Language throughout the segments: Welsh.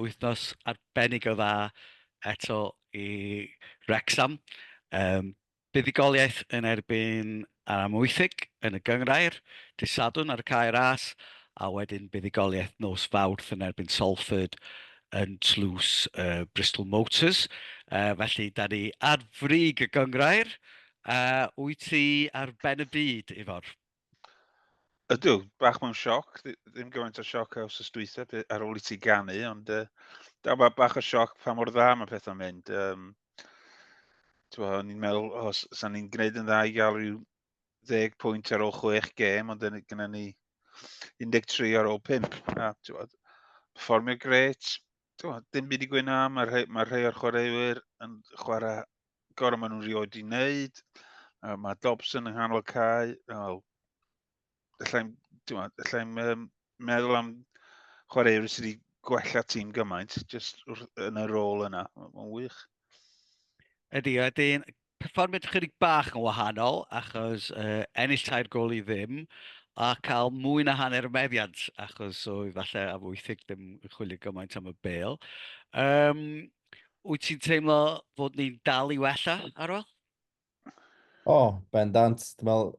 Wythnos arbennig o dda eto i Wrecsam. Yym, buddugoliaeth yn erbyn Amwythig yn y Gynghrair dydd Sadwrn ar y Cae Ras, a wedyn buddugoliaeth nos Fawrth yn erbyn Salford yn tlws y Bristol Motors. Yy, felly, da ni ar frig y Gynghrair. Yy, wyt ti ar ben y byd, Ifor? Ydw, bach mewn sioc, ddim gymaint o sioc a wrth dwytha ar ôl i ti ganu, ond uh, da, ba, bach o sioc pa mor dda mae pethau'n mynd. Um, o'n i'n meddwl, o, oh, sa'n ni'n gwneud yn dda i gael rhyw 10 pwynt ar ôl 6 gêm, ond gyda ni 13 ar ôl 5. A, bod, performio gret, bod, dim byd i gwyn am, mae'r rhai, mae rhai o'r chwaraewyr yn chwarae gorau maen nhw'n rioed i wneud. Uh, mae Dobson yng nghanol cae. Well, allai'n allai um, meddwl am chwaraewyr sydd wedi gwella tîm gymaint, jyst yn y rôl yna. Mae'n wych. Ydy, ydy. Perfformiad chydig bach yn wahanol, achos uh, ennill tair gol i ddim, a cael mwy na hanner y meddiant, achos oedd falle am 80 ddim yn chwilio gymaint am y bel. Um, Wyt ti'n teimlo fod ni'n dal i wella, Arwel? O, oh, bendant. Dwi'n meddwl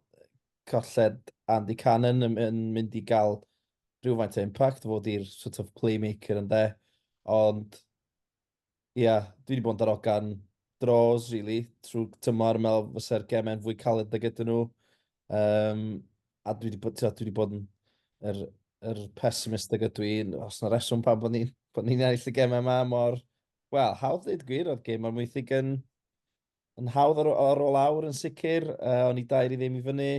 colled Andy Cannon yn, yn mynd i gael rhywfaint o impact fod i'r sort of playmaker yn de. Ond, ia, yeah, dwi wedi bod yn darogan draws, really, trwy tymor, meddwl fysa'r gemau'n fwy caled da gyda nhw. Um, a dwi wedi bod, dwi wedi bod yn yr, yr pessimist ag ydw i, os na reswm pan bod ni'n bod ni ennill y gemau yma mor, wel, hawdd dweud gwir, oedd gem o'r mwythig yn, yn hawdd ar, ar ôl awr yn sicr, uh, o'n i dair i ddim i fyny,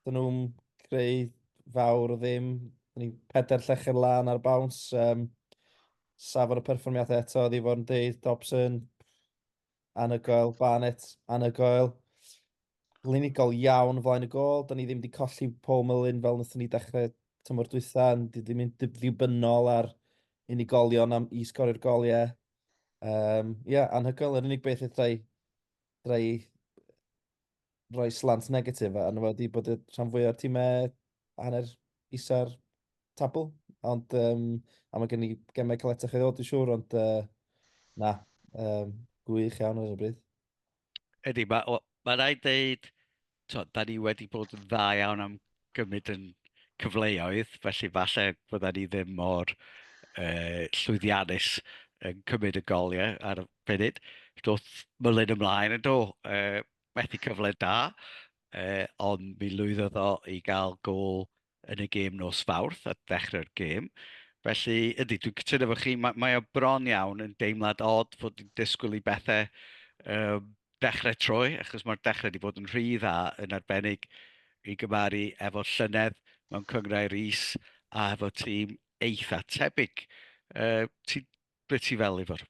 dyn nhw'n creu fawr o ddim, o'n i pedair llechen lan ar bawns, um, safon y perfformiadau eto, oedd i fod yn deud, Dobson, Anhygoel, Barnett, anhygoel. Glinigol iawn flaen y gol. Da ni ddim wedi colli Paul Mullin fel wnaethon ni dechrau tymor dwytha. Di ddim yn ddibynnol ar unigolion am i sgorio'r gol, ie. Um, ie, yeah, anhygoel. Yr unig beth eithaf i rhoi slant negatif a yna wedi bod y rhan fwy o'r tîmau hanner isa'r tabl. Ond um, a mae gen i gemau caletach i ddod i siŵr, ond uh, na, um, gwych iawn ar y bryd. Ydy, mae ma rhaid dweud, da ni wedi bod yn dda iawn am gymryd yn cyfleoedd, felly falle bydden ni ddim mor uh, llwyddiannus yn cymryd y goliau ar y funud. Doedd Mullin ymlaen yn do, uh, methu cyfle da, uh, ond mi lwyddodd o i gael gol yn y gêm nos fawrth at ddechrau'r gêm. Felly, ydy, dwi'n cytuno fo chi, mae, mae o bron iawn yn deimlad od fod yn disgwyl i bethau um, dechrau troi, achos mae'r dechrau wedi bod yn rhy dda, yn arbennig i gymaru efo llynedd mewn cyngrau Rees a hefo tîm eitha tebyg. Uh, ti, be ti fel, Ifor?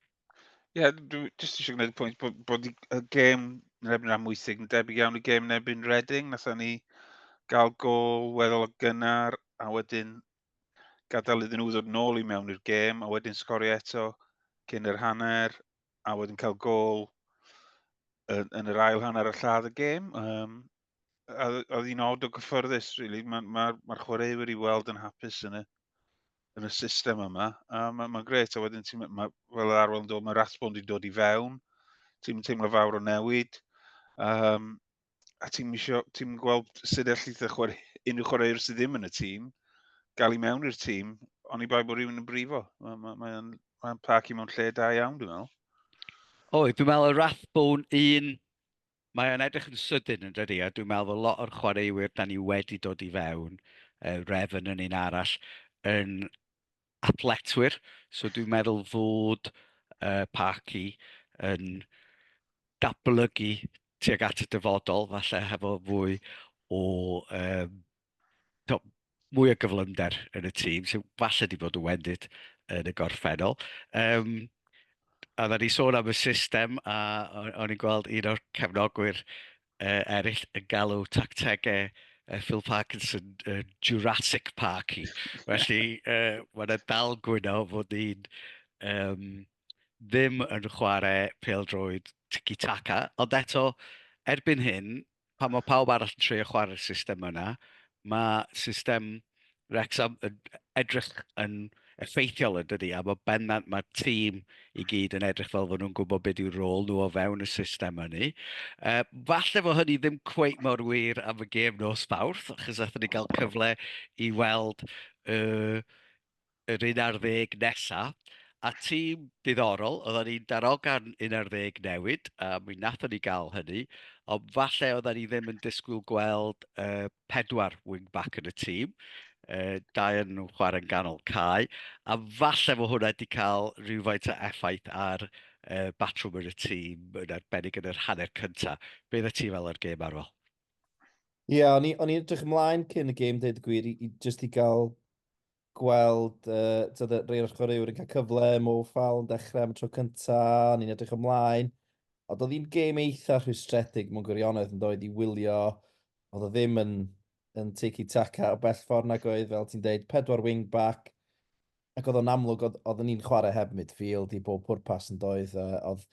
Ie, yeah, dwi jyst eisiau gwneud y pwynt bod, bod y gêm yn erbyn rhan mwysig yn debyg iawn i gêm yn erbyn Reading. Nathon ni gael gol weddol o gynnar a wedyn gadael iddyn nhw ddod nôl i mewn i'r gêm a wedyn sgorio eto cyn yr hanner. a wedyn cael gol yn, yn yr ail hanner y lladd y gêm. Um, a oedd hi'n od o gyffyrddus, really. Mae'r ma, ma, ma chwaraewyr i weld yn hapus yn y, yn y system yma. A mae'n ma gret, a wedyn ti'n, ma, fel yr arwel yn dod, mae Rathbond wedi dod i fewn. Ti'n teimlo fawr o newid. Um, a ti'n misio, ti'n gweld sut allith y chwarae, unrhyw chwaraewr sydd ddim yn y tîm, gael i mewn i'r tîm, ond i bai bod rhywun yn brifo. Mae'n ma, ma, ma, ma i mewn lle da iawn, dwi'n meddwl. O, dwi'n meddwl y Rathbone un, mae o'n edrych yn sydyn yn dydi, a dwi'n meddwl fod lot o'r chwaraewyr da ni wedi dod i fewn, uh, Revan yn un arall, yn athletwyr, so dwi'n meddwl fod uh, Parky yn datblygu tuag at y dyfodol, falle hefo fwy o um, to, mwy o gyflymder yn y tîm, sy'n falle di bod yn wendid yn y gorffennol. Um, a dda ni sôn am y system, a o'n i'n gweld un o'r cefnogwyr uh, eraill yn galw tactegau uh, Phil Parkinson uh, Jurassic Park i. Felly, uh, mae'n dal gwyno fod ni'n um, ddim yn chwarae peldroed tiki-taka, ond eto, erbyn hyn, pan mae pawb arall yn treulio chwarae'r system yna, mae system Wrecsam yn edrych yn effeithiol yn dydy, a bod bennant mae'r tîm i gyd yn edrych fel fod nhw'n gwybod beth yw'r rôl nhw o fewn y system hynny. Uh, falle fod hynny ddim cweith mor wir am y gêm nos fawrth, achos athyn ni gael cyfle i weld uh, yr un ar ddeg nesaf, A tîm diddorol, oedden ni'n darogan un ar ddeg newid, a mi wnaethon ni gael hynny, ond falle oedden ni ddim yn disgwyl gweld uh, pedwar wing-back yn y tîm, uh, dau yn nhw'n chwarae'n ganol cae, a falle fod hwnna wedi cael rhywfaint o effaith ar uh, batrwm yn y tîm, yn arbennig yn yr hanner cyntaf. Be ddod ti fel o'r gêm arwel? Ie, yeah, o'n i'n edrych ymlaen cyn y gêm, dweud y gwir, i, i just i gael gweld uh, tyd, rei o'r chwaraewr yn cael cyfle, Mo Fal yn dechrau am y tro cyntaf, ni'n edrych ymlaen. Ond oedd hi'n gêm eitha rhwystredig mewn gwirionedd yn dod i wylio. Oedd o ddim yn, yn tiki taka o bell ffordd nag oedd, fel ti'n deud, pedwar wingback. Ac oedd o'n amlwg, oedd, oedd ni'n chwarae heb midfield i bob pwrpas yn doedd. Uh, oedd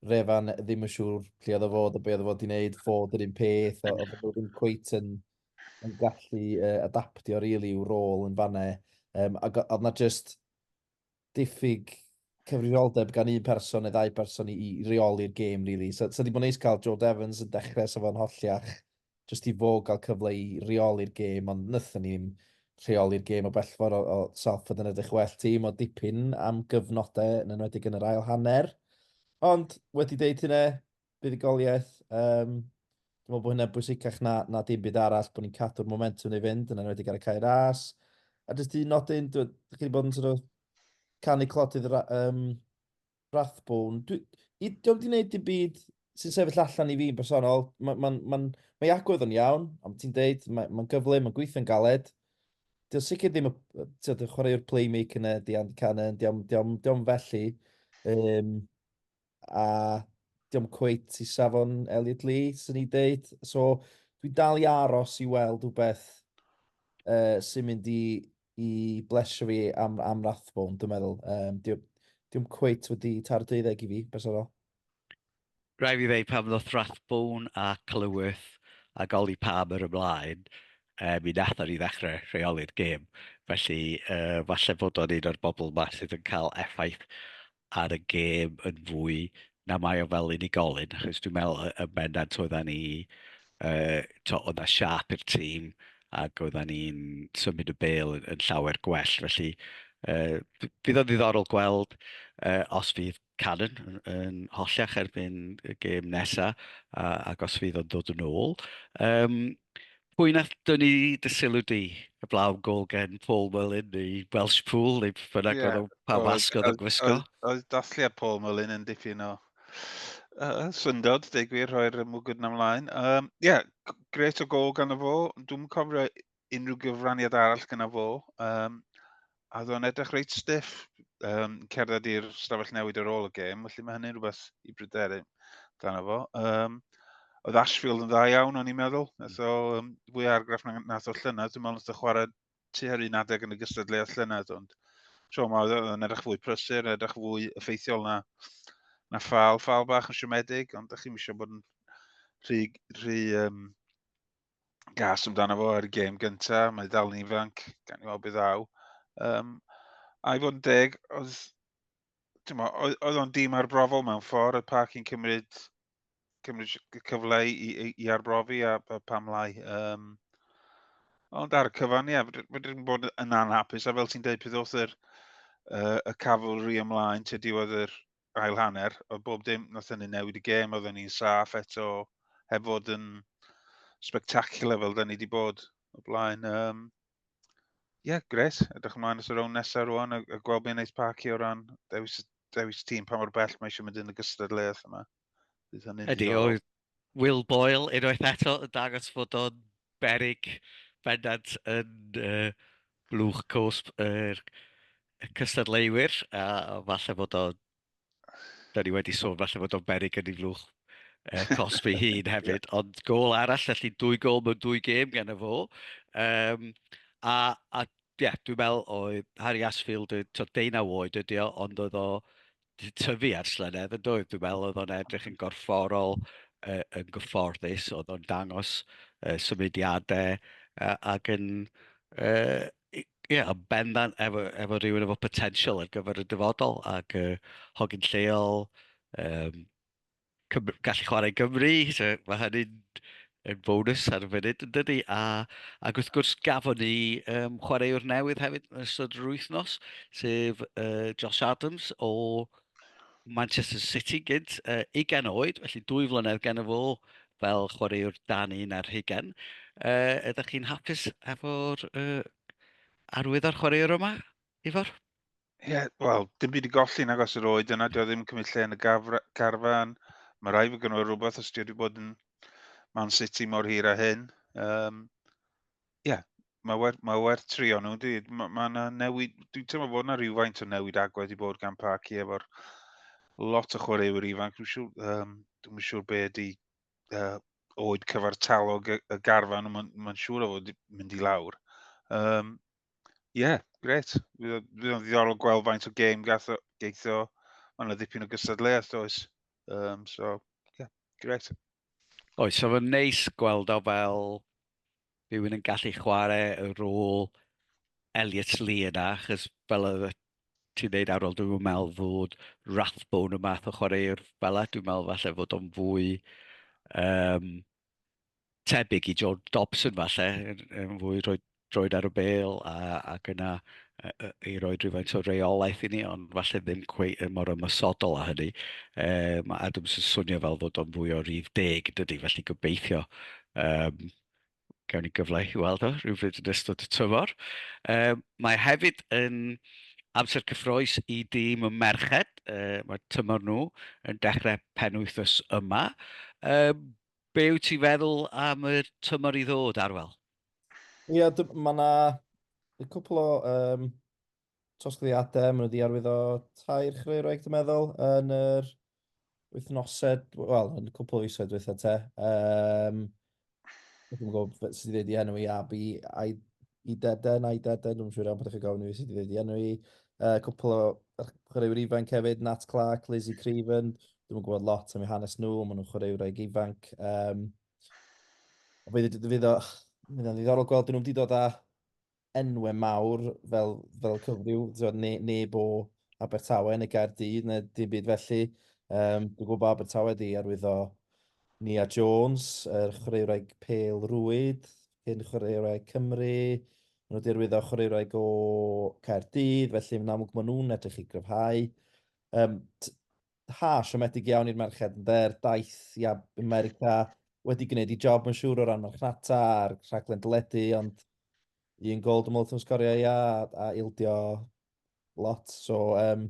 Refan ddim yn siŵr lle oedd o fod a be oedd o fod i'n neud, fod yr un peth, oedd o ddim cweit yn yn gallu uh, adaptio really i'w rôl yn fanna. Um, ac oedd na just diffyg cyfrifoldeb gan un person neu ddau person i, i reoli'r gêm, really. So, so di bod neis cael George Evans yn dechrau sef o'n holliach, just i fo gael cyfle i reoli'r gêm, ond nythyn ni'n rheoli'r gêm o bellfor o, o Salford yn edrych well tîm o dipyn am gyfnodau yn enwedig yn yr ail hanner. Ond wedi deud hynna, buddugoliaeth. Um, dwi'n meddwl bod hynny'n bwysicach na, na dim byd arall, bod ni'n cadw'r momentum neu fynd, yn enwedig ar y cair as. A jyst un nodyn, dwi'n chi wedi bod yn sort of canu clodydd um, Rathbone. Dwi, i, dwi'n di wneud dim byd sy'n sefyll allan i fi'n bersonol. Mae ma, ma, ma agwedd yn iawn, ond ti'n deud, mae'n ma gyflym, mae'n gweithio'n galed. Dwi'n sicr ddim y, ti'n chwaraewr playmaker yna, dia'n canan, dia'n felly. Um, a diom cweit i safon Elliot Lee, sy'n ei dweud. So, dwi'n dal i aros i weld rhywbeth uh, sy'n mynd i, i blesio fi am, am Rathbone, dwi'n meddwl. Um, diom, diom cweit wedi tar 20 i fi, bersonol. Rhaid fi ddweud pam ddoth Rathbone a Clywyth a goli pam yr ymlaen, e, mi nath ni ddechrau rheoli'r gêm. Felly, uh, falle bod o'n un o'r bobl yma sydd yn cael effaith ar y gêm yn fwy na mae o fel unigolyn, achos dwi'n meddwl y bendant oedda ni, uh, to, oedd na siap i'r tîm ac oedda ni'n symud y bel yn, yn llawer gwell, felly uh, bydd o'n ddiddorol gweld uh, os fydd Cannon yn, yn hollach erbyn y gêm nesaf uh, ac os fydd o'n dod yn ôl. Um, Pwy nath dynnu dy sylw di? Heblaw am gol gen Paul Mullin neu Welsh Pool neu beth bynnag oedd o'n pa masg oedd o'n gwisgo. Oedd dathliad Paul Mullin yn dipyn o uh, syndod, deg gwir, rhoi'r mwgwd na mlaen. Ie, um, yeah, gret o gol gan y fo. Dwi'n cofio unrhyw gyfraniad arall gyda fo. Um, a oedd o'n edrych reit stiff um, cerdded i'r stafell newid ar ôl y gêm, felly mae hynny'n rhywbeth i bryderu dan efo. Um, oedd Ashfield yn dda iawn, o'n i'n meddwl. Nath o um, fwy argraff na nath o llynedd. Dwi'n meddwl nath o chwarae tu ar un adeg yn y gystadleuaeth llynedd, ond tro yma oedd o'n edrych fwy prysur, edrych fwy effeithiol na, na ffal, ffal bach yn siomedig, ond ydych chi'n eisiau bod yn rhy, rhy um, gas amdano fo ar y gêm gynta, mae dal yn ifanc, gan i weld beth ddaw. Um, a i fod yn deg, oedd, mo, oedd, oedd o'n dîm arbrofol mewn ffordd, y pac i'n cymryd, cymryd y cyfle i, i, i arbrofi a, a pam lai. Um, ond ar y cyfan, ie, yeah, fydrwn bod yn anhapus, a fel ti'n dweud, peth oedd yr, uh, y cafwlri ymlaen, te diwedd yr, ail hanner, oedd bob dim, nath hynny newid y gêm, oedden ni'n saff eto, heb fod yn spectacular fel da ni wedi bod o blaen. Um, Ie, yeah, gret. Edrych ymlaen at y rown nesaf rwan a, a gweld beth wneud Parky o ran dewis, dewis tîm pa mor bell mae eisiau mynd yn y gystadleuaeth yma. Ydy, oedd Will Boyle, unwaith eto, yn dangos fod o'n berig bendant yn uh, blwch cosb yr er cystadleuwyr, a falle bod o'n... Da ni wedi sôn falle bod o'n berig yn ei flwch uh, cosb ei hun hefyd, ond gol arall, felly dwy gol mewn dwy gêm gan y fo. Um, a, a yeah, dwi'n meddwl oedd Harry Asfield, 19 oed ydi o, ond oedd o tyfu ar slynedd yn doedd? Dwi'n meddwl oedd o'n edrych yn gorfforol, uh, yn gyfforddus, oedd o'n dangos uh, symudiadau uh, ac yn... Uh, Ie, yeah, yn bendant efo, efo rhywun efo potensial ar gyfer y dyfodol ac uh, hogyn lleol, um, Cymru, gallu chwarae Gymru, so mae hynny'n yn bonus ar y funud yn dydy. A, ac wrth gwrs gafon ni um, chwaraewr newydd hefyd yn ystod yr wythnos, sef uh, Josh Adams o Manchester City gynt, uh, 20 oed, felly dwy flynedd gen y fo fel chwaraewr dan un ar hugen. Uh, ydych chi'n hapus efo'r uh, arwydd ar chwaraewr yma, Ifor? Ie, yeah, wel, dim byd i golli nag os yr oed yna, dio ddim cymryd lle yn y gafra, garfan. Mae rai fy gynwyr rhywbeth os dio wedi bod yn Man City mor hir a hyn. Ie, um, yeah, mae werth, mae werth trio nhw. Mae ma yna newid, dwi'n teimlo bod yna rhywfaint o newid agwedd i bod gan Parci efo'r lot o chwaraewyr ifanc. Dwi'n siŵr, um, dwi'n siŵr be ydi uh, oed cyfartalog y, y garfan, mae'n ma siŵr o fod mynd i lawr. Um, Ie, yeah, gret. Fydd o'n ddiddorol gweld faint o gêm gath o geithio. Mae'n yna ddipyn o gystadleuaeth, does? Um, so, ie, yeah, gret. Oes, so fe'n neis gweld o fel rhywun yn gallu chwarae y rôl Elliot Lee yna, chys fel y ti'n neud ar ôl, dwi'n meddwl fod Rathbone y math o chwaraewr fel y, dwi'n meddwl falle fod o'n fwy um, tebyg i Joe Dobson falle, yn fwy rhoi droed ar y bel a, ac yna i roi rhywfaint o reolaeth i ni, ond falle ddim cwei mor ymwysodol â hynny. E, mae Adams yn swnio fel fod o'n fwy o rif deg, dydy, felly gobeithio um, gawn ni gyfle i weld o rhywbryd yn ystod y tymor. Um, mae hefyd yn Amser cyffrous i dîm y merched, mae tymor nhw yn dechrau penwythnos yma. Be wyt ti'n feddwl am y tymor i ddod, Arwel? Ie, mae yna cwpl o um, tosgriadau, maen nhw wedi arwyddo tair chreuwraig, dwi'n meddwl, yn yr wythnosed, wel, yn cwpl o isoedd dweitha te. Um, Dwi'n gwybod sut i ddweud i enw i, a bu i, i deden, a'i deden, dwi'n siŵr iawn bod chi'n gofyn i fi sut i ddweud i enw i. Uh, cwpl o chwaraewyr ifanc hefyd, Nat Clark, Lizzie Craven, dwi'n gwybod lot am eu hanes nhw, maen nhw'n chwaraewraig ifanc. Um, fydd o'n ddiddorol gweld nhw'n wedi dod â enwau mawr fel, fel cyfryw, ne, neb o Abertawe neu Gaerdydd neu dim byd felly. Um, dwi'n gwybod Abertawe di arwyddo Nia Jones, yr er chwaraewraig pel rwyd, cyn chwaraewraig Cymru, nhw wedi arwyddo chwaraewraig o Caerdydd, felly yn amlwg maen nhw'n edrych i gryfhau. Um, ha, siomedig iawn i'r merched, ynde, er daith i America wedi gwneud i job yn siŵr o ran marchnata a'r rhaglen dyledu, ond un gol dim wrth yn sgorio ia, a ildio lot. So, um,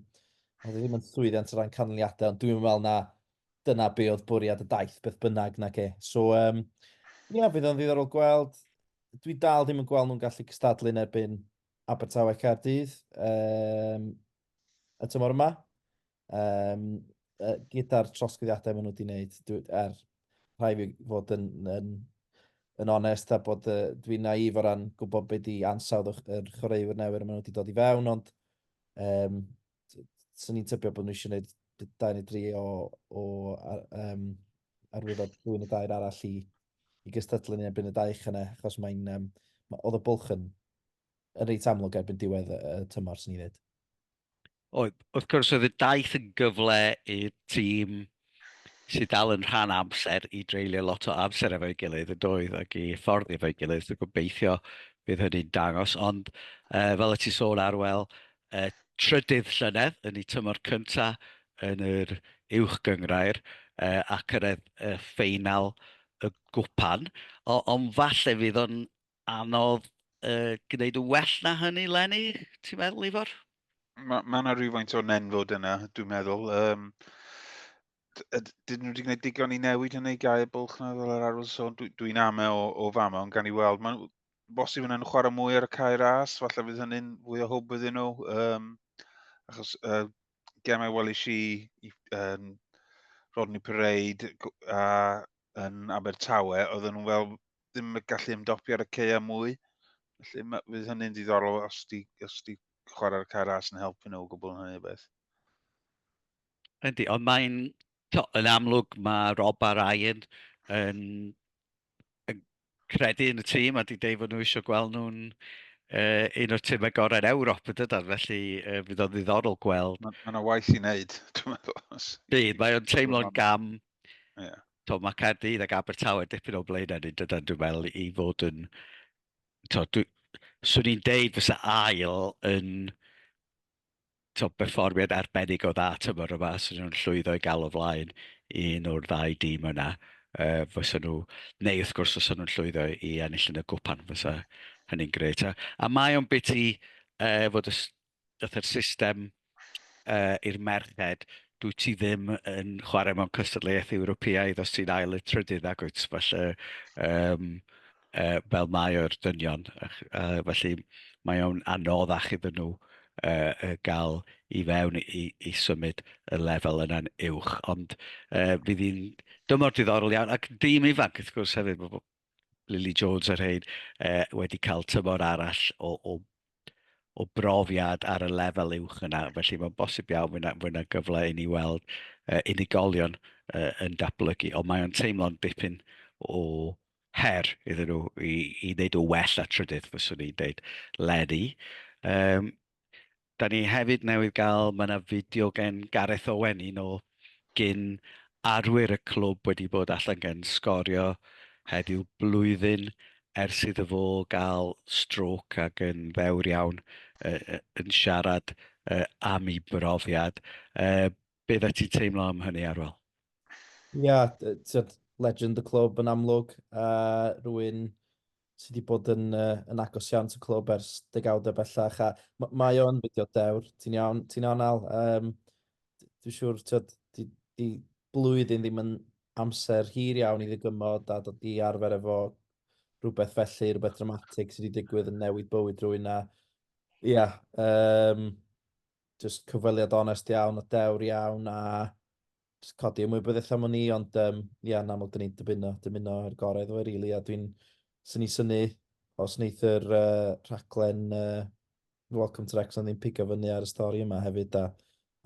oedd e ddim yn llwyddiant o ran canlyniadau, ond dwi'n meddwl na dyna be oedd bwriad y daith beth bynnag na ge. So, um, ia, yeah, fydd o'n ddiddorol gweld. Dwi dal ddim yn gweld nhw'n gallu cystadlu'n erbyn Abertawe Caerdydd. Um, y tymor yma. Um, gyda'r trosgyddiadau maen nhw wedi gwneud, er rhai fi fod yn, yn, yn onest a bod uh, dwi'n naif o ran gwybod beth i ansawdd yr chwaraewyr newydd maen nhw wedi dod i fewn, ond um, sy'n ni'n tybio bod nhw eisiau gwneud dau neu dri o, o um, arwyddo dwy neu dair arall i, i gystadlu ni erbyn y daich yna, achos mae'n, um, ma, oedd y bwlch yn yn reit amlwg erbyn diwedd y tymor, swn i'n dweud. Oedd. Wrth gwrs, oedd y daith yn gyfle i'r tîm sydd dal yn rhan amser i dreulio lot o amser efo'i gilydd yn doedd ac i ffordd efo'i gilydd. Dwi'n gobeithio bydd hynny'n dangos. Ond uh, fel y ti sôn arwel, uh, trydydd llynedd yn ei tymor cynta yn yr uwch gyngrair uh, a cyrraedd y ffeinal y gwpan. Ond falle fydd o'n anodd uh, gwneud yn well na hynny, Lenny, ti'n meddwl, Ifor? Mae ma yna rhywfaint o nenfod yna, dwi'n meddwl. Um, dyn nhw wedi gwneud digon i newid yn ei gael bwlch na fel yr arwyd sôn, dwi'n dwi am e o, o fama, ond gan i weld, mae'n bosib yna'n chwarae mwy ar y cair as, falle fydd hynny'n fwy o hwb iddyn nhw. Um, achos uh, gemau weli si i um, Rodney Parade a yn Abertawe, oedden nhw'n fel ddim yn gallu ymdopi ar y ceia mwy. Felly ma, fydd hynny'n ddiddorol os di, os di chwarae'r cair as yn helpu nhw o gwbl yn hynny o beth. Yndi, ond mae'n... Yn amlwg mae Rob a Ryan yn, yn credu yn y tîm a di deud fod nhw eisiau gweld nhw'n uh, un o'r tîmau gorau'n Ewrop y dydan, felly uh, fydd o'n ddiddorol gweld. Mae yna waith i wneud, dwi'n meddwl. Bydd, mae o'n teimlo'n gam Yeah. To, mae Caerdydd ac Abertawe dipyn o blaen yn dydan, dwi'n meddwl, i fod yn... To, dwi, swn i'n deud fysa ail yn to, berfformiad arbennig o dda tymor yma, swn nhw'n llwyddo i gael o flaen i un o'r ddau dîm yna. Uh, fysa nhw, neu wrth gwrs fysa nhw'n llwyddo i ennill yn y gwpan, fysa hynny'n gret. A, a mae o'n biti uh, fod y Daeth yr system uh, i'r merched, dwi ti ddim yn chwarae mewn cystadleuaeth Ewropeaidd os ti'n ail y trydydd agwyd, felly um, uh, fel mae o'r dynion, uh, felly mae o'n anoddach iddyn nhw uh, gael i fewn i, i symud y lefel yna'n uwch, ond uh, fydd hi'n dymor diddorol iawn, ac dîm ifanc wrth gwrs hefyd, Lily Jones a rhaid uh, wedi cael tymor arall o, o, o brofiad ar y lefel uwch yna. Felly mae'n bosib iawn fwy na, fwy na gyfle i ni weld uh, unigolion uh, yn datblygu. Ond mae'n teimlo'n dipyn o her iddyn nhw i, i wneud o well a trydydd, fyswn i'n dweud, Lenny. Um, Da ni hefyd newydd gael, mae yna fideo gen Gareth Owen, un o gyn arwyr y clwb wedi bod allan gan sgorio heddiw blwyddyn ers iddo fo gael strôc ac yn ddewr iawn uh, uh, yn siarad uh, am ei brofiad. Uh, be dda ti'n teimlo am hynny, Arwel? Ia, yeah, legend y clwb yn amlwg. Uh, rwy'n sy wedi bod yn, uh, yn agos iawn to clwb ers degawdau bellach, a mae o'n fideo dewr, ti'n iawn, ti'n iawn al. Um, Dwi'n siŵr, ti'n di, di blwyddyn ddim yn amser hir iawn i ddygymod a dod i arfer efo rhywbeth felly, rhywbeth dramatig sydd wedi digwydd yn newid bywyd rwy'n a, ia, yeah, um, just cyfweliad onest iawn a dewr iawn a jyst codi ymwybyddiaeth am ni, ond um, ia, yn amlwg, dyn ni'n dymuno, dymuno yr gorau iddo fe, rili, really, a dwi'n sy'n ni syni os wneith yr uh, rhaglen uh, Welcome to Wrexham ddim pigo fyny ar y stori yma hefyd, a,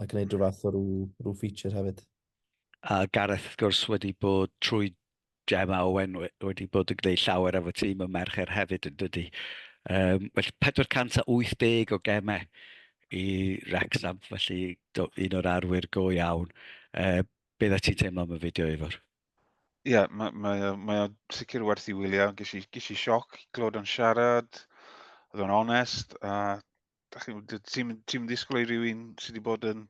a gwneud rhyw fath o rhyw, rhyw feature hefyd. A Gareth, wrth gwrs, wedi bod trwy Gemma Owen wedi bod yn gwneud llawer efo tîm y mercher hefyd yn dydy. Um, felly 480 o gemau i Rexham, felly do, un o'r arwyr go iawn. Uh, be dda ti'n teimlo am y fideo efo'r? Ie, yeah, mae, mae, mae o sicr werth i wylio. Ges i, ges i sioc i glod o'n siarad, oedd o'n onest, a ti'n disgwyl i rywun sydd wedi bod yn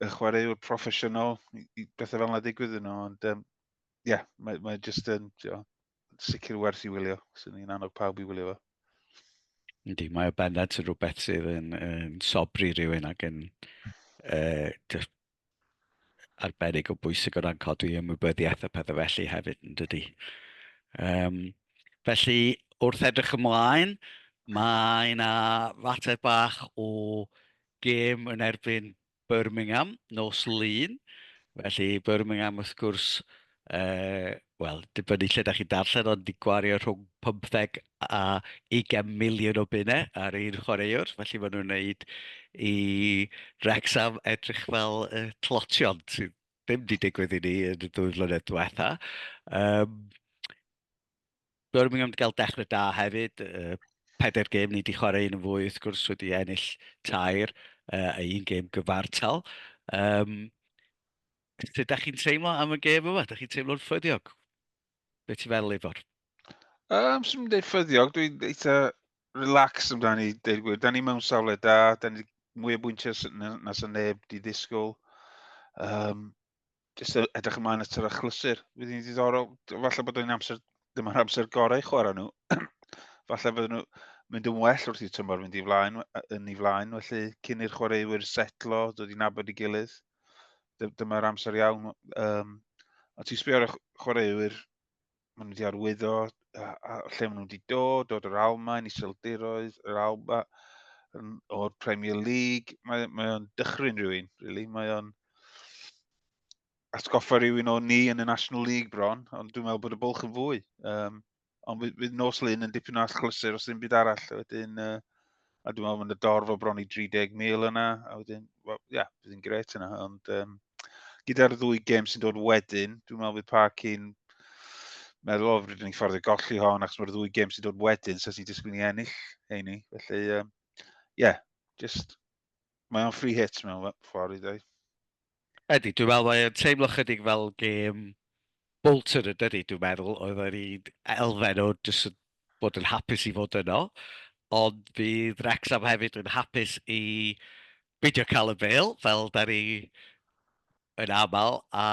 y chwaraewr proffesiynol i, i bethau fel yna digwydd yn nhw, ond ie, um, yeah, mae, mae jyst yn jo, sicr werth i wylio, sy'n ni'n annog pawb i wylio fo. Yndi, mae o bennad sy'n rhywbeth sydd yn, yn sobri rhywun ac yn uh, arbennig o bwysig o ran codi ymwybyddiaeth a pethau felly hefyd yn dydy. Um, felly, wrth edrych ymlaen, mae yna fater bach o gêm yn erbyn Birmingham nos lun. Felly Birmingham wrth gwrs yy, wel, dibynnu lle da chi'n darllen, ond di gwario rhwng 15 a 20 miliwn o bunau ar un chwaraewr, felly maen nhw'n wneud i Wrexham edrych fel y tlotion, sydd ddim wedi digwydd i ni yn y dwy flynedd diwetha. Um, Birmingham wedi cael dechrau da hefyd, uh, pedair gêm ni wedi chwarae un yn fwy, wrth gwrs wedi ennill tair uh, a un gêm gyfartal. Um, Sut da chi'n teimlo am y gêm yma? Da chi'n teimlo'n ffyddiog? Be ti'n feddwl, Ifor? Um, Swn i'n dweud ffyddiog, dwi'n eitha relax amdani, dweud gwir. Da ni mewn safle da, da ni mwy o bwyntiau na sy'n neb di ddisgwyl. Um, Just edrych ymlaen at yr achlysur. Fydd hi'n ddiddorol, falle bod o'n amser, ddim ar amser gorau chwarae nhw. falle bod nhw mynd yn well wrth i'r tymor fynd i flaen, yn ei flaen, felly cyn i'r chwaraewyr setlo, dod i'n abod i gilydd. dyma'r amser iawn. Um, a ti'n sbio ar y chwaraewyr, maen nhw wedi arwyddo, a, a lle maen nhw wedi dod, dod o'r Almain, Iseldiroedd, yr Alba, o'r Premier League. Mae, mae o'n dychryn rhywun, really. Mae o'n atgoffa rhywun o ni yn y National League bron, ond dwi'n meddwl bod y bwlch yn fwy. Um, Ond fydd, fydd nos lun yn dipyn o allchlysur os ddim byd arall. A wedyn, uh, a dwi'n meddwl mae'n y dorf o bron i 30,000 yna. A wedyn, well, ia, yeah, bydd yn gret yna. Ond um, gyda'r ddwy gem sy'n dod wedyn, dwi'n meddwl bydd Park yn meddwl, o, rydyn ni'n ffordd i golli hon, achos mae'r ddwy gem sy'n dod wedyn, so sy'n disgwyl i ennill heini. Felly, ie, um, yeah, just, mae o'n free hit mewn ffordd i ddweud. Ydy, dwi'n meddwl mae o'n teimlo chydig fel gêm Bolton yn dydi, dwi'n meddwl, oedd yr un elfen o jyst yn bod yn hapus i fod yno, ond bydd Wrexham hefyd yn hapus i beidio cael y bel, fel da ni yn aml, a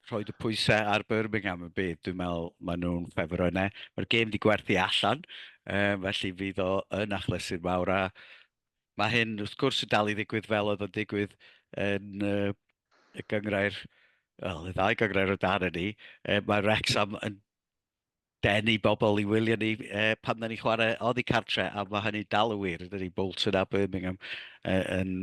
rhoi y pwysau ar Birmingham yn bydd. Dwi'n meddwl maen nhw'n ffefr yna. Mae'r gêm wedi gwerthu allan, um, felly fydd o yn achlysu'r mawr a Mae hyn, wrth gwrs, yn dal i ddigwydd fel oedd yn digwydd yn uh, y gyngrair, wel, y ddau gyngrair o dan ni. Uh, mae Rexham yn denu bobl i wylio ni uh, pan da ni chwarae oddi cartre, a mae hynny dal y wir. Dydy Bolton a Birmingham uh, yn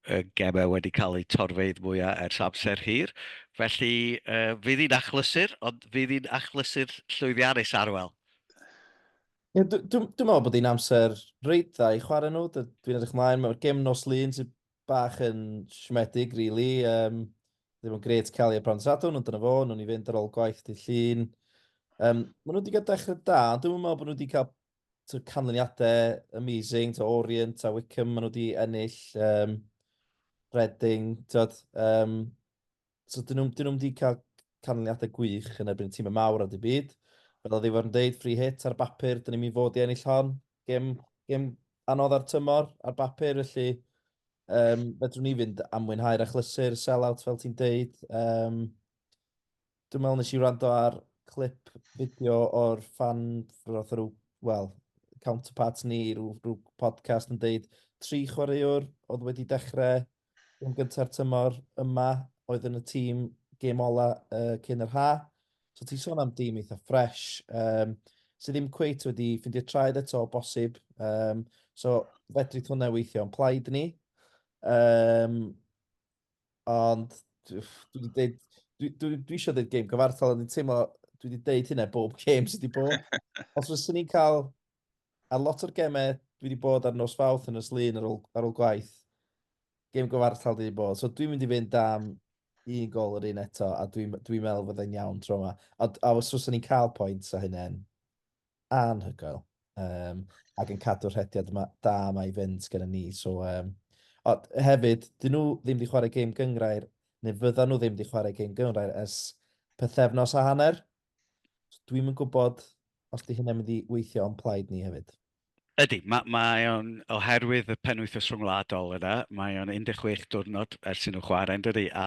y gemau wedi cael eu torfeidd mwyaf ers amser hir. Felly, uh, fydd hi'n achlysur, ond fydd hi'n achlysur llwyddiannus arwel. Yeah, Dwi'n meddwl bod hi'n amser reit dda i chwarae nhw. Dwi'n edrych mlaen, mae'r gem nos lun sy'n bach yn siomedig, really. Um, ddim yn gret cael ei apron sadwn, ond dyna fo, nhw'n i fynd ar ôl gwaith di llun. Um, mae nhw wedi cael dechrau da, ond dwi'n meddwl bod nhw wedi cael to, canlyniadau amazing, to Orient a Wickham, mae nhw wedi ennill um, Reading, tyd, um, So, dyn nhw'n nhw wedi cael canlyniadau gwych yn erbyn y tîm y mawr ar y byd. Fel oedd Iwan yn dweud, free hit ar bapur, dyn ni'n mynd fod i ennill hon. Gem, gem anodd ar tymor, ar bapur, felly um, fedrwn ni fynd am mwynhau'r achlysur, sell-out fel ti'n dweud. Um, dwi'n meddwl nes i wrando ar clip fideo o'r fan, roedd rhyw, wel, counterparts ni, rhyw, rhyw podcast yn dweud tri chwaraewr oedd wedi dechrau gêm gynta'r tymor yma oedd yn y tîm gêm ola uh, cyn yr ha. So ti'n sôn am dîm eitha ffres, um, sydd ddim cweit wedi ffindio traed eto o bosib. Um, so fedri hwnna weithio yn plaid ni. Um, ond dwi wedi dweud, dwi, dwi, dwi eisiau dweud gêm gyfartal, ond dwi'n teimlo, dwi wedi dweud hynna bob gêm sydd wedi bod. Os fyswn ni'n cael Ar lot o'r gemau, dwi wedi bod ar nos fawth yn y slun ar ôl, ar ôl gwaith. Gem gyfartal dwi wedi bod. So dwi'n mynd i fynd am un gol yr un eto, a dwi'n dwi, dwi meddwl fydde'n iawn tro yma. A, a os oes ni'n cael pwynt a hynny'n anhygoel. Um, ac yn cadw'r rhediad yma, da yma i fynd gen ni. So, um, o, hefyd, dyn nhw ddim wedi chwarae gêm gyngrair, neu fydda nhw ddim wedi chwarae gêm gyngrair ers pethefnos a hanner. Dwi'm yn gwybod os 'di hynna'n mynd i weithio o'n plaid ni hefyd. Ydy, mae, mae o'n, oherwydd y penwythnos rhyngwladol yna, mae o'n 16 diwrnod ers i nhw chwarae yn dydy, a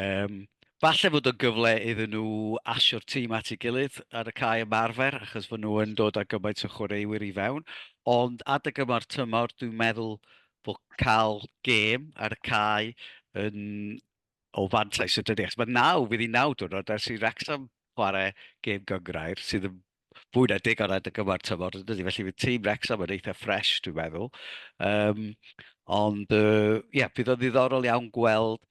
um, falle fod o'n gyfle iddyn nhw asio'r tîm at ei gilydd ar y cae ymarfer, achos fod nhw yn dod â gymaint o chwaraewyr i fewn, ond adeg yma'r tymor, dwi'n meddwl bod cael gêm ar y cae yn o fantais y dyddiau. Mae naw, fydd i naw diwrnod ers i Wrexham chwarae gêm gyngrair, sydd yn fwy na deg ar y gyfer tymor yn dydy. Felly fydd tîm Wrexham yn eitha ffres, dwi'n meddwl. Um, ond, ie, uh, yeah, bydd o'n ddiddorol iawn gweld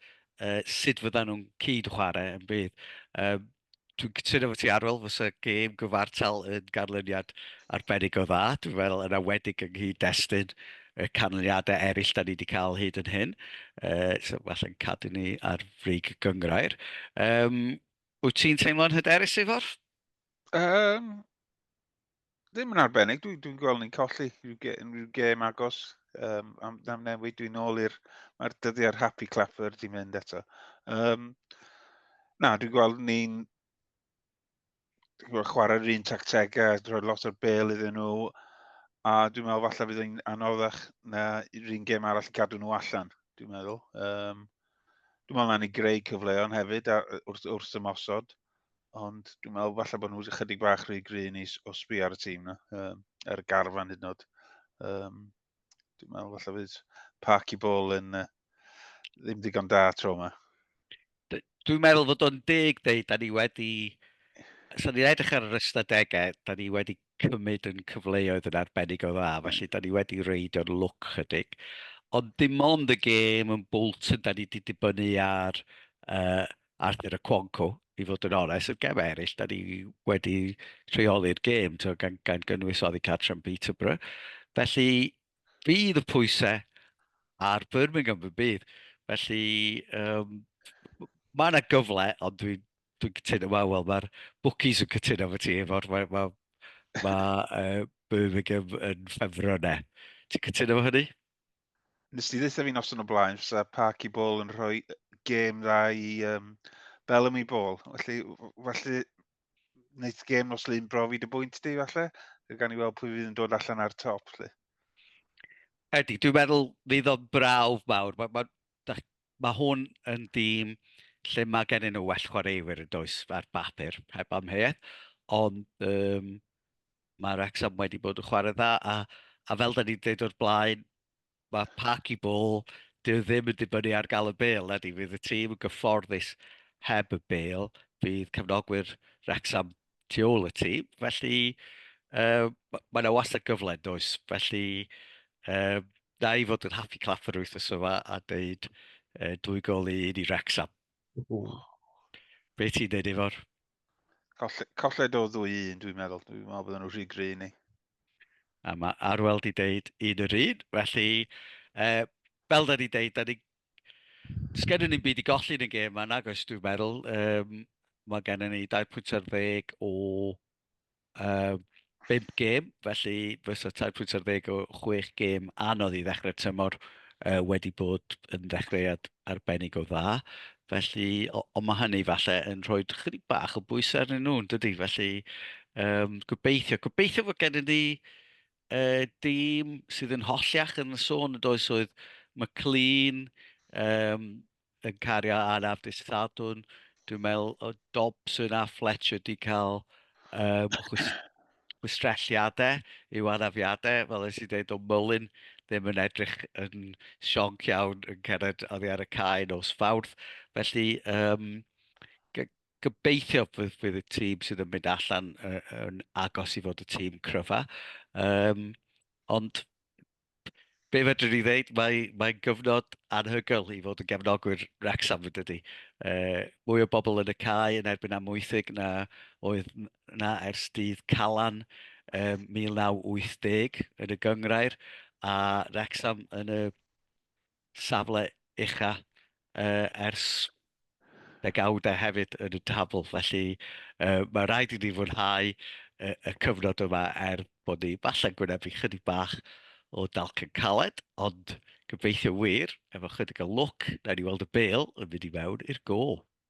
uh, sut fyddan nhw'n cyd chwarae yn bydd. Um, dwi'n cytuno fo ti Arwel, fysa gêm gyfartal yn ganlyniad arbennig o dda. Dwi'n meddwl yn awedig yng nghyd destun y canlyniadau eraill da ni wedi cael hyd yn hyn. Uh, so falle'n cadw ni ar frig y gyngrair. Um, wyt ti'n teimlo'n hyderus, Ifor? Um, ddim yn arbennig. Dwi'n dwi gweld ni'n colli rhyw ge, unrhyw gêm agos um, am, am newid. Dwi'n ôl i'r... Mae'r dyddiau'r happy clapper di mynd eto. Um, na, dwi'n gweld ni'n chwarae'r un tactegau, rhoi lot o'r bel iddyn nhw, a dwi'n meddwl falle fydd yn anoddach na un gêm arall i cadw nhw allan, dwi'n meddwl. Um, dwi'n meddwl na ni greu cyfleoedd hefyd a, wrth, wrth ymosod. ond dwi'n meddwl falle bod nhw'n ychydig bach rhy gryn i o sbi ar y tîm na, um, ar y garfan hyd yn oed. Um, dwi'n meddwl falle fydd parc i bol yn uh, ddim digon da tro yma. Dwi'n meddwl fod o'n deg dweud, da ni wedi... So ni'n edrych ar yr ystadegau, da ni wedi cymryd yn cyfleoedd yn arbennig o dda, hmm. felly da ni wedi reidio'n lwc chydig. Ond dim ond y gêm yn Bolton, da ni wedi dibynnu ar uh, Arthur a Quanco, i fod yn onest, y gemau eraill, da ni wedi rheoli'r gêm, to, gan, gan gynnwys oddi cartre yn Peterborough. Felly, bydd y pwysau ar Birmingham y bydd. Felly, um, mae yna gyfle, ond dwi'n dwi cytuno, wel, wel mae'r bookies yn cytuno fy ti, efo'r, mae, mae, mae uh, Birmingham yn ffefro yna. Ti'n cytuno fo hynny? Nes ti ddeitha fi noson o blaen, fysa Parky Ball yn rhoi gêm dda i um, Bellamy Ball. Felly, felly wneud gêm nos lun brofi dy bwynt di, falle. Gan i weld pwy fydd yn dod allan ar top, lle. Edi, dwi'n meddwl fydd o'n brawf mawr. Mae ma, ma, ma hwn yn dîm lle mae gennym nhw well chwaraewyr yn does ar bapur, heb amheuaeth. Ond um, Mae Wrexham wedi bod yn chwarae dda, a, a fel da ni'n dweud o'r blaen, mae pac i bol, dyw e ddim yn dibynnu ar gael y bel, na di, fydd y tîm yn gyfforddus heb y bel, bydd cefnogwyr Wrexham tu ôl y tîm, felly uh, mae yna wastad gyfle, does, felly uh, na i fod yn haffi claff yr wythnos yma a dweud uh, dwy gol i un i Wrexham. Be ti'n dweud efo'r? Colled o ddwy un, dwi'n meddwl. Dwi'n meddwl bod nhw'n rhy gry ni. A mae Arwel di deud un yr un, felly, e, fel da ni deud, da ni... Sgennyn ni'n byd i golli yn y gêm yna, gos dwi'n meddwl. Um, mae gennym ni 20 ar ddeg o Uh, 5 gêm, felly fysa 3.10 o 6 gêm anodd i ddechrau tymor uh, wedi bod yn ddechreuad arbennig o dda. Felly, ond mae hynny falle yn rhoi chydig bach o bwysau arnyn nhw, dydy? Felly, um, gobeithio, gobeithio fod gennym ni uh, dîm sydd yn holliach yn y sôn yn does oedd McLean, um, yn cario ar Afdis Sadwn. Dwi'n meddwl o Dobson a Fletcher wedi cael um, chwistrelliadau i'w anafiadau, fel ys i dweud o Mullin ddim yn edrych yn sionc iawn yn cered oddi ar y cae nos fawrth. Felly, um, gobeithio fydd, fydd y tîm sydd yn mynd allan uh, yn agos i fod y tîm cryfa. Um, ond be fedrwn ni ddeud, mae, mae'n gyfnod anhygoel i fod yn gefnogwyr Wrexham, fydde di. E, mwy o bobl yn y cae yn erbyn amwythig na oedd na ers dydd Calan e, 1980 yn y gyngrair, a Wrexham yn y safle ucha ers degawd a hefyd yn y tabl. Felly mae rhaid i ni fwynhau y cyfnod yma er bod ni falle'n gwynebu chydig bach o dalcen caled, ond gobeithio wir, efo chydig o lwc, nawn ni weld y bêl yn mynd i mewn i'r gôl.